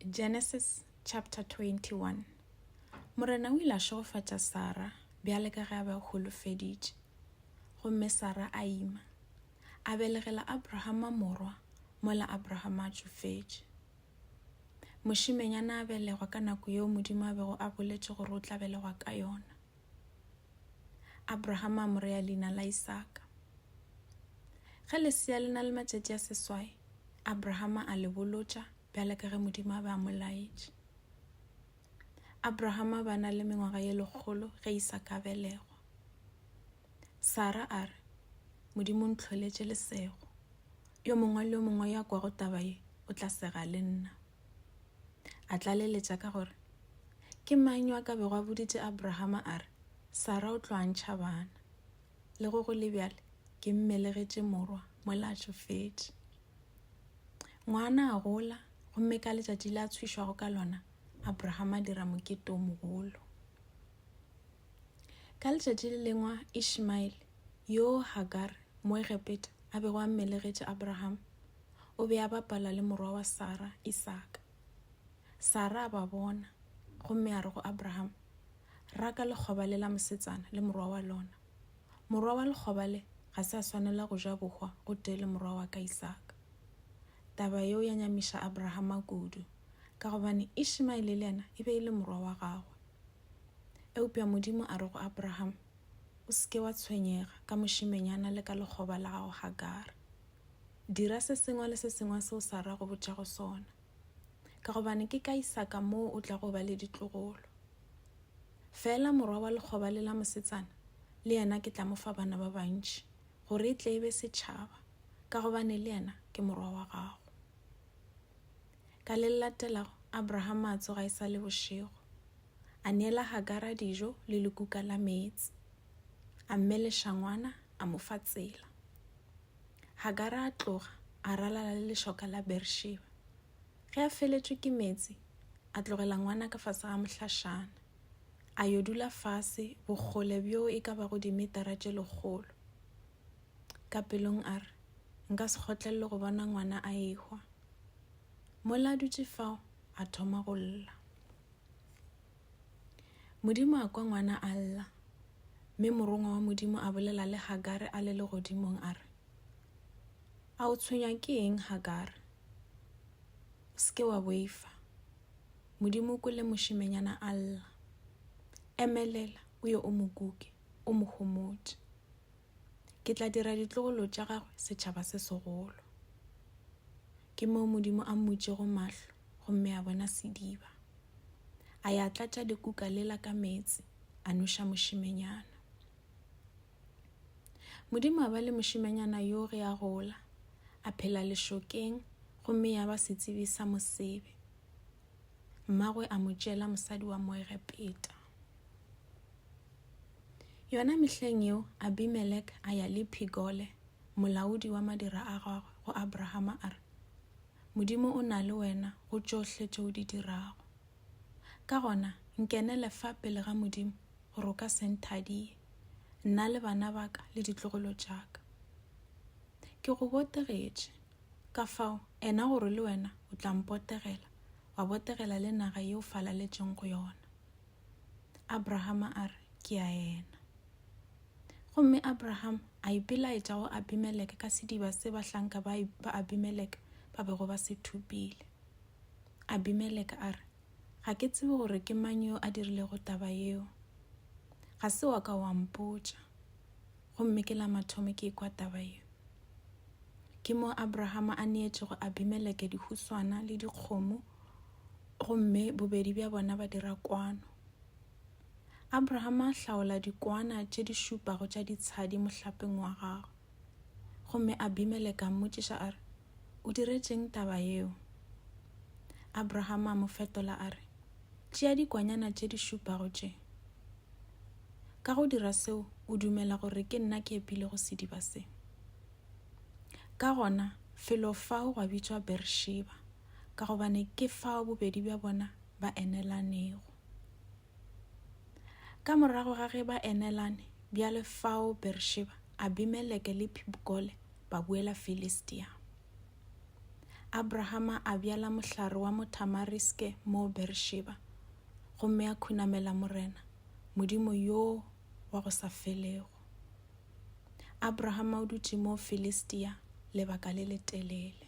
Genesis chapter 21 Morena o ile a šegofatša Sara bjale ka ge a be a holofeditše. Gomme Sara a ima, a belegela Abrahama morwa, mola Abrahama a tšofetše. Mošimenyana a belegwa ka nako yeo Modimo a bego a boletše gore o tla belegwa ka yona. Abraham a mo rea leina la Isaka. Ge lesea le na le matšatši a seswai, Abraham a le bolotša bjale ka ge Modimo a be a mo laetše. Abraham a ba na le mengwaga ye lekgolo ge Isaka a belegwa. Sara a re, Modimo o ntlholetše lesego. Yo mongwe le yo mongwe yo a kwago taba ye o tla sega le nna. A tlaleletša ka gore, Ke mang yo a ka bego a boditše Abrahama a re, Sara o tlo a ntšha bana? Le go go le bjale, ke mmelegetše morwa mola a tšofetše. Ngwana a gola, gomme ka letšatši le a tshwišwago ka lona, Abrahama a dira mokete o mogolo. Ka letšatši le lengwa Ishmaele, yoo Hagar, moegepeta, a bego a mmelegetše Abrahama, o be a bapala le morwa wa Sara, Isaka. Sara a ba bona gomme a re go Abraham, Raka lekgoba le la mosetsana le morwa wa lona. Morwa wa lekgoba le ga se a swanela go ja bohwa gotee le morwa wa ka Isaka. Taba yeo ya nyamiša Abrahama kudu, ka gobane Ishimaele le yena e be e le morwa wa gagwe. Eupša Modimo a re go Abraham, O se ke wa tshwenyega ka mošimenyana le ka lekgoba la gago Hagara. Dira se sengwe le se sengwe seo Sara a go botšago sona, ka gobane ke ka Isaka moo o tlago ba le ditlogolo. Feela morwa wa lekgoba le la mosetsana le yena ke tla mo fa bana ba bantši, gore e tle e be setšhaba, ka gobane le yena ke morwa wa gago. Ka le le latelago, Abrahama a tsoga e sa le bošego, a neela Hagara dijo le lekuka la meetse, a mmeleša ngwana, a mo fa tsela. Hagara a tloga a ralala le lešoka la Beersheba. Ge a feletšwe ke meetse, a tlogela ngwana ka fase ga mohlašana, a yo dula fase bokgole bjo e ka bago dimetara tše lekgolo. Ka pelong a re, Nka se kgotlelele go bona ngwana a ehwa. Mola a dutše fao, a thoma go lla. Modimo a kwa ngwana a lla, mme morongwa wa Modimo a bolela le Hagare a le legodimong a re, A o tshwenywa ke eng, Hagare? O se ke wa boifa. Modimo o kwele mošemenyana a lla. Emelela, o ye o mo kuke, o mo gomotše. Ke tla dira ditlogolo tša gagwe setšhaba se segolo. Ke moo Modimo a mmutšego mahlo gomme a bona sediba. A ya tlatša dikuka lela ka meetse a noša mošimenyana. Modimo a ba le mošimenyana yo ge a gola, a phela lešokeng gomme ya ba setsebi sa mosebe. Mmagwe a mo tšela mosadi wa Moegepeta. Yona mehleng yeo Abimelek a ya le Phigole, molaodi wa madira a gagwe, go Abrahama a re, Modimo o na le wena go tšohle tše o di dirago. Ka gona nkenele fa pele ga Modimo gore o ka se nthadiye, nna le bana ba ka le ditlogolo tša ka. Ke go botegetše, ka fao ena gore le wena o tla mpotegela, wa botegela le naga ye o falaletšeng go yona. Abrahama a re, Ke a ena. Gomme Abraham a ipelaetša go Abimeleke ka sediba se bahlanka ba Abimeleke ba bego ba se thupile. Abimeleke a re, Ga ke tsebe gore ke mang yo a dirilego taba yeo. Ga se wa ka wa mpotša. Gomme ke la mathomo ke ekwa taba ye. Ke mo Abrahama a neetšego Abimeleke dihuswana le dikgomo gomme bobedi bja bona ba dira kwano. Abrahama a hlaola dikwana tše di šupago tša ditshadi mohlapeng wa gagwe. Gomme Abimeleke a mmotšiša a re, O diretšeng taba yeo? Abraham a mo fetola a re, Tšea dikwanyana tše di šupago tše. Ka go dira seo, o dumela gore ke nna ke epilego sediba se. Ka gona, felo fao gwa bitšwa Bersheba, ka gobane ke fao bobedi bja bona ba enelanego. Ka morago ga ge ba enelane bjale fao Bersheba, Abimeleke le Phibkole ba boela Filistia. Abrahama a bjala mohlare wa mothamariske moo Bersheba, gomme a khunamela Morena, Modimo yo wa go sa felego. Abrahama o dutše moo Filistia lebaka le letelele.